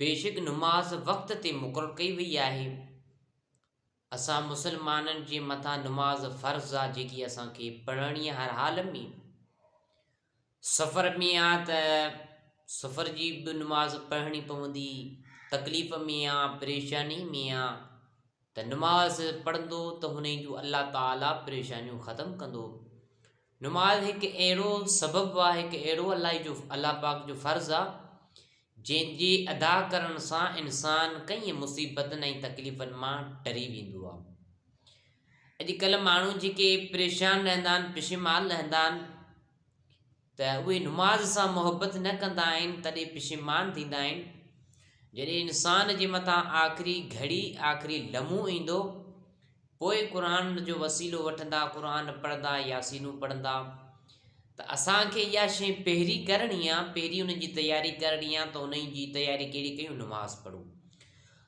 بيشڪ نماز وقت تي مقرر ڪئي وئي آهي. اسان مسلمانن جي مٿان نماز فرض آ جيڪي اسان کي پڙهڻي آ هر حال ۾. سفر ۾ آ ته سفر جي به نماز پڙهڻي پوندي، تڪليف ۾ آ، پريشاني ۾ آ، ته نماز پڙهندو ته هونئن جو الله تعالي پريشانيون ختم ڪندو نماز هڪ اهڙو سبب آ هڪ اهڙو الله جو الله پاڪ جو فرض آ جنهن جي ادا ڪرڻ سان انسان ڪئين مصيبتن ۽ تڪليفن مان ٽري ويندو آ اڄڪلهه ماڻهو جيڪي پريشان رهندا آهن پشيمان رهندا آهن ته اهي نماز سان محبت نه ڪندا آهن تڏهن پشيمان ٿيندا آهن جڏهن انسان جي مٿان آخري گهڙي آخري لمحو ايندو پوء قرآن جو وسيلو وٺندا قرآن پڙهندا ياسينون پڙهندا ته اسان کي اها شي پهرين ڪرڻي آهي پهرين ان جي تياري ڪرڻي آهي ته ان جي تياري ڪهڙي ڪيون نماز پڙهون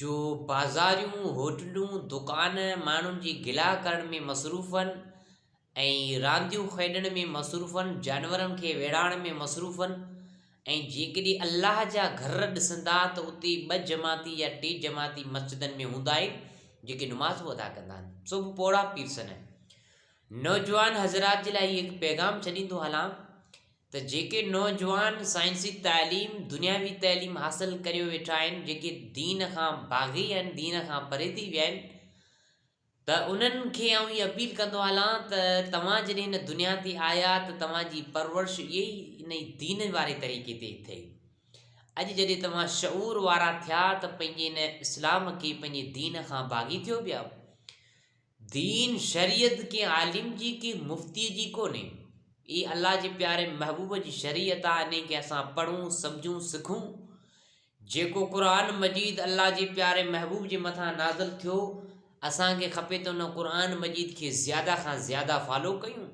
جو بازاريون، هوٽلون، دڪان ماڻهن جي گلا ڪرڻ ۾ مصروف هئن ۽ رانديون کيڏڻ ۾ مصروف هئن، جانورن کي ويڙهاڻ ۾ مصروف هئن ۽ جيڪڏهن الله جا گهر ڏسندا ته اتي ٻه جماعتي يا ٽي جماعتي مسجدن ۾ هوندا آهن جيڪي نمازون ادا ڪندا آهن سو به پوڙها پيرسن آهن نوجوان حضرات جي لاء هي پيغام ڇڏيندو هلان ته جيڪي نوجوان سائنسي تعليم دنياوي تعليم حاصل ڪريو ويٺا آهن جيڪي دين کان باغي آهن دين کان پري ٿي ويا آهن ته انهن کي آئون هي اپيل ڪندو هلان ته توهان جڏهن هن دنيا تي آيا ته توهان جي پرورش اهي ئي ان ئي دين واري طريقي تي ٿئي اڄ جڏهن توهان شعور وارا ٿيا ته پنهنجي هن اسلام کي پنهنجي دين کان باغي ٿيو پيا دين شريعت ڪنهن عالم جي ڪنهن مفتيء جي ڪونهي، اي الله جي پياري محبوب جي شريعت آ انهي کي اسان پڙهون، سمجهون، سکون. جيڪو قرآن مجيد الله جي پياري محبوب جي مٿان نازل ٿيو، اسان کي کپي ته ان قرآن مجيد کي زياده کان زياده فالو ڪيون.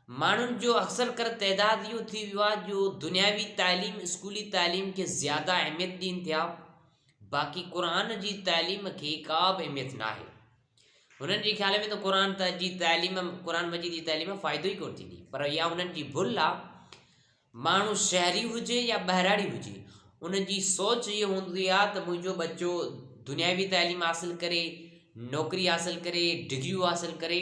ماڻهن جو اڪثر ڪر تعداد اهو ٿي ويو آ جو دنياوي تعليم، اسڪولي تعليم کي زياده اهميت ڏين ٿيا. باقي قرآن جي تعليم کي ڪا به اهميت ناهي. هنن جي خيال ۾ ته قرآن ته جي تعليم قرآن مجيد جي تعليم ۾ فائدو ئي ڪونه ٿيندي پر اها هنن جي ڀل آ ماڻهو شهري هجي يا ٻهراڙي هجي ان جي سوچ هي هوندي آ ته منهنجو ٻچو دنياوي تعليم حاصل ڪري نوڪري حاصل ڪري ڊگريون حاصل ڪري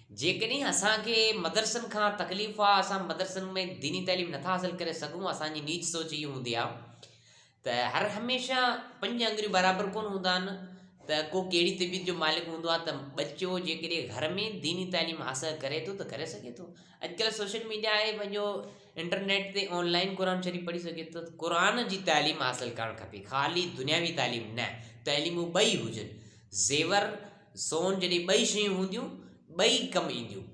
جيڪڏهن اسان کي مدرسن کان تڪليف آ اسان مدرسن ۾ ديني تعليم نٿا حاصل ڪري سگهون اسان جي نيچ سوچ هي هوندي آ ته هر هميشه پنج انگريون برابر ڪونه هوندا آهن ته ڪو ڪهڙي طبيعت جو مالڪ هوندو آ ته ٻچو جيڪڏهن گهر ۾ ديني تعليم حاصل ڪري ٿو ته ڪري سگهي ٿو اڄڪلهه سوشل ميڊيا آهي پنهنجو انٽرنيٽ تي آنلائن قرآن شريف پڙهي سگهي ٿو قرآن جي تعليم حاصل ڪرڻ کپي خالي دنياوي تعليم نه تعليمون ٻئي هجن زيور سون جڏهن ٻئي شيون هونديون، ٻئي ڪم اينديون.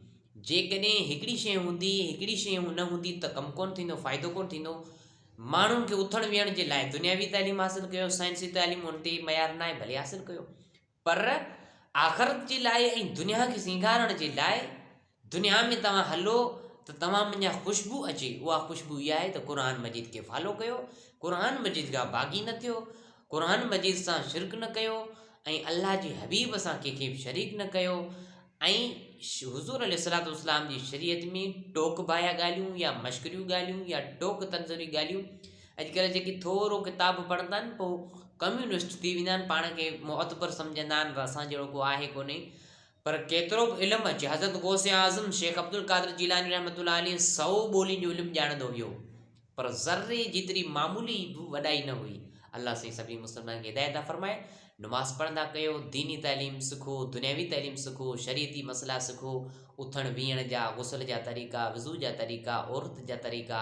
جيڪڏهن هڪڙي شيء هوندي، هڪڙي شيء نه هوندي ته ڪم ڪونه ٿيندو، فائدو ڪونه ٿيندو. ماڻهن کي اٿڻ ويهڻ جي لاء دنياوي تعليم حاصل ڪيو، سائنسي تعليم ان تي معيار ناهي، ڀلي حاصل ڪيو. پر آخرت جي لاء ۽ دنيا کي سينگارڻ جي لاء، دنيا ۾ توهان هلو ته توهان منجهان خوشبو اچي، اها خوشبو اها آهي ته قرآن مجيد کي فالو ڪيو، قرآن مجيد کان باغي نه ٿيو، قرآن مجيد سان شرڪ نه ڪيو ۽ الله جي حبيب سان ڪنهن کي به شريڪ نه ڪيو ۽ حضور عليه الصلاة والسلام جي شريعت ۾ ٽوڪ باهيا ڳالهيون يا مشڪريون ڳالهيون يا ٽوڪ تنظري ڳالهيون اڄڪلهه جيڪي ٿورو ڪتاب پڙهندا آهن پوء ڪميونسٽ ٿي ويندا آهن پاڻ کي معتبر سمجهندا آهن اسان جهڙو ڪو آهي ڪونهي پر ڪيترو به علم اچي، حضرت غوث اعظم شيخ عبدالقادر جيلاني رحمة الله عليه سؤ ٻولين جو علم ڄاڻندو هيو پر ذري جيتري معمولي به وڏائي نه هئي. الله سائين سڀني مسلمانن کي هدايت عطا فرمائي. نماز پڙهندا ڪيو، ديني تعليم سکو، دنياوي تعليم سکو، شريعتي مسئلا سکو، اٿڻ ويهڻ جا، غسل جا طريقا، وضو جا طريقا، عورت جا طريقا،